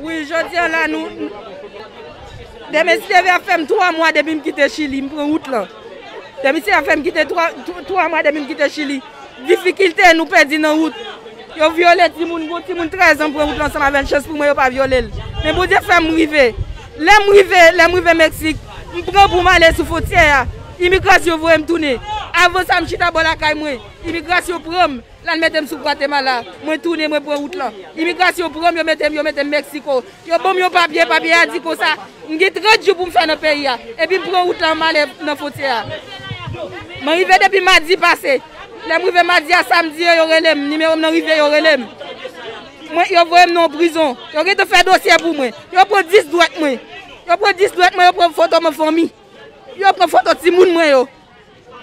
Wi jodia la nou Dè mesi deve ap fèm 3 mwa depi m kite chili m pran wout lan Dè mesi ap fèm kite 3 mwa depi m kite chili difikilte nou pèdi nan wout yo vyole timoun gon timoun 13 an m pran wout lan ansanm avèl chans pou mwen yo pa vyole l men bondye fèm rive lèm rive lèm rive meksik m pran pou m ale sou fontyè a imigrasyon voyem tounen avan sa m chita bò lakay mwen imigrasyon pranm Lal metem sou Guatemala. Mwen tounen mwen pran wout lan. Imigrasyon pranm yo metem yo metem Mexico. Yo banm yon papye, papye a di konsa m gen 30 jou poum fè nan peyi a. Epi m pran wout lan m ale nan fontyè a. Mwen rive depi madi pase. Lèm rive madi a samdi yo yo relem, nimewo m nan rive yo relem. Mwen yo voyem nan yon prizon. Yo gentan fè dosye pou mwen. Yo pran 10 dwèt mwen. Yo pran 10 dwèt mwen yo pran foto m an fanmi. Yo pran foto timoun mwen yo.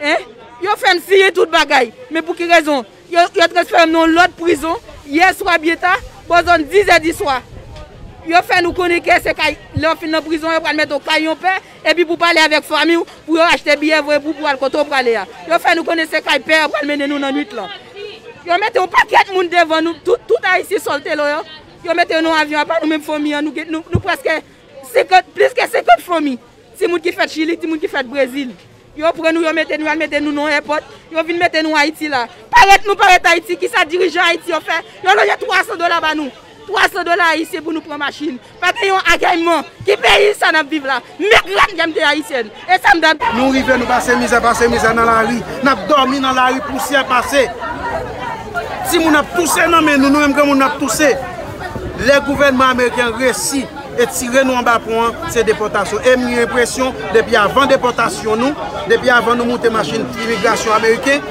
Hein? Yo fè m siyen tout bagay, men pou ki rezon? Yo yo transfere m nan yon lòt prizon yè swa byen ta, bò zòn dizè diswa. Yo fè nou konnen ke se kay, lè w fin nan prizon yo pral mete w kay yon pè, epi pou pale avèk fanmi w, pou yo achte biyè voye pou w pou w al kote w prale a. Yo fè nou konnen se kay pè yo pral mennen nou nan nwit lan. Yo mete yon pakèt moun devan nou, tout tout Ayisyen sòltelo yo, yo mete yo nan yon avyon apa nou menm fanmi an nou gen nou nou prèske 50, plis ke 50 fanmi, timoun ki fèt Chili, timoun ki fèt Brezil. Yo pran nou, yo mete nou, y al mete nou nan èpòt, yo vin mete nou Ayiti la. Parèt nou parèt Ayiti, ki sa dirijan Ayiti yo fè? Yo loje 300 dola ba nou. 300 dola ayisyen pou nou pran machin. Pa gen yon agèyman. Ki peyi sa n ap viv la? Mèt la m gen m te ayisyèn. Esam tande. Nou rive nou pase mizè pase mizè nan lari nap domi nan lari pousyè pase timoun ap touse nan men nou nou menm granmoun nap touse lè gouvènman ameriken resi etire nou anba pon an se depòtasyon em gen enpresyon depi avan depòtasyon nou depi avan nou moute machin imigrasyon ameriken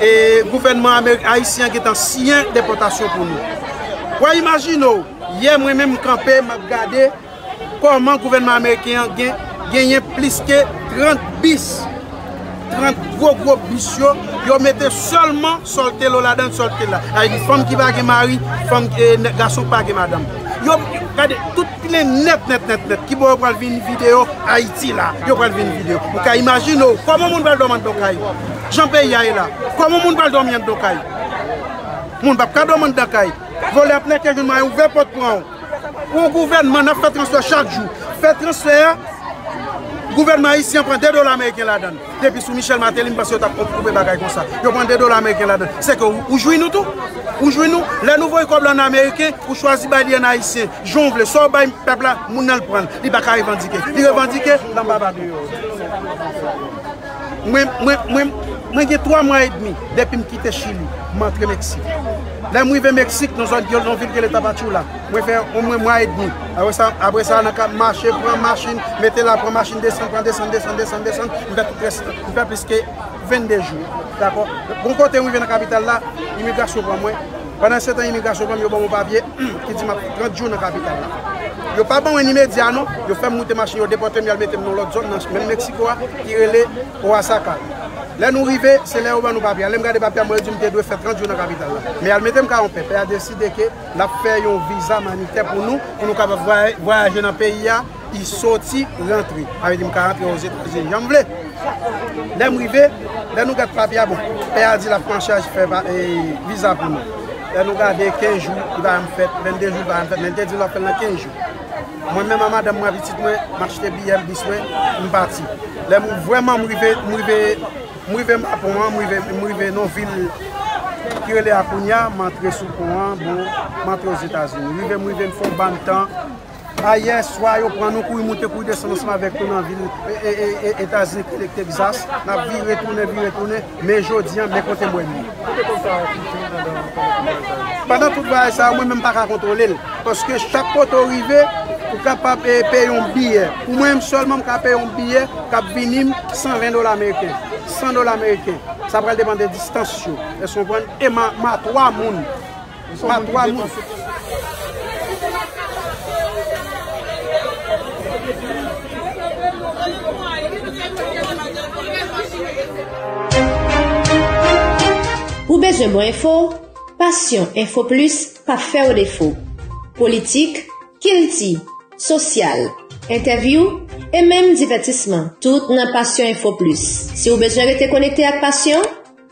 e gouvènman ameriken ayisyen gentan siyen depòtasyon pou nou wè imajine w yè mwen menm kanpe map gade Kòman gouvènman ameriken an genyen plis ke 30 bis, 30 gwo gwo bis yo, yo mete sèlman Soltelo ladan, Soltela. Sa vle di fanm ki pa gen mari, fanm, gason ki pa gen madanm. Yo, gade, tout plen nèt nèt nèt nèt. Kibò yo pral vin vide yo? Ayiti la yo pral vin vide yo. Ou ka imajine w, kòman moun pral dòmi anndan kay? Jan peyi a ye la, kòman moun pral dòmi anndan kay? Moun pap ka dòmi anndan kay. Vòlè ap nèke joun mwen ouvè pòt pran w. Yon gouvènman nan fè transfè chak jou. Fè transfè a, gouvènman ayisyen an pran 2 dola ameriken ladan. Depi sou Michel Martelly m panse yo tap koupe bagay konsa. Yo pran 2 dola ameriken ladan. Se ke ou jwi nou tou. Ou jwi nou. Lè nou voye kòb la an ameriken, ou chwazi bay li an ayisyen. Jan ou vle. Sa ou bay pèp la, moun nan l pran l. Li pa ka revandike. Li revandike, lanba ba do. Mwen gen 3 mwa edmi depi m kite Chili, m antre Meksik. Lè m rive Meksik, nan zòn yon vil ki rele Tapachula, mwen fè omwen mwa edmi. Apre sa, nan kad mache, pran machin, mete la, pran machin, desann, pran desann, desann, desann, desann, m fè tout rès tan. M fè plis ke 22 jou. Dakò? Bon kote m rive nan kapital la, imigrasyon pran mwen. Pandan setan imigrasyon pran m, yo ban m yon papye. U ki di map 30 jou nan kapital la. Yo pa ban mwen ni medya non, yo fèm moute machin yo depòtem yal metem nan lòt zòn nan menm Mexico a ki rele Oaxaca. Lè nou rive se lè yo ban nou papye a, lèm gade papye a mwen yo dim te dwe fè 30 jou nan kapital la. Men yal metem ka onpè, pè a deside ke lap fè yon viza manitè pou nou, pou nou kapab vwayaje nan peyi a. I soti, rantre. Sa vle di m ka rantre ozetazini jan m vle. Lè m rive, lè nou gad papye a, bon, pè a di l ap pran chaj fè viza pou nou. Lè nou gade, 15 jou li pa janm fèt, 22 jou li pa janm fèt, men li te di nou l ap fè l nan 15 jou. Mwen menm ak madanm mwen ak pitit mwen, m achte biyè m, bis mwen, m pati. Lè m vrèman m rive, m rive, m rive Mapon an, m rive, m rive nan yon vil ki rele Akonya, m antre sou pon an, bon, m antre ozetazini. Rive m rive, m fè yon bann tan. Ayè swa yo pran nou kouri moute kouri desann ansanm avèk nou nan vil Etazini ki te Texas, n ap vire tounen vire tounen, men jodi an men kote m wè nou. Ou te konn sa a kite w pandan tout vwayaj sa yo? Pandan tout vwayaj sa yo mwen menm m pa ka kontwole l, paske chak kote w rive ou kapab peye yon biyè, pou mwen menm sèlman m ka peye yon biyè k ap vini m 120 dola meriken, 100 dola meriken, sa pral depann de distans yo, èske w konprann, e m a 3 moun. pa 3 moun. Ou bezwen bon enfo? Passion info plus pa fè w defo. Politik, kilti, sosyal, entèvyou e menm divètisman tout nan Passion info plus. Si w bezwen rete konekte ak Passion,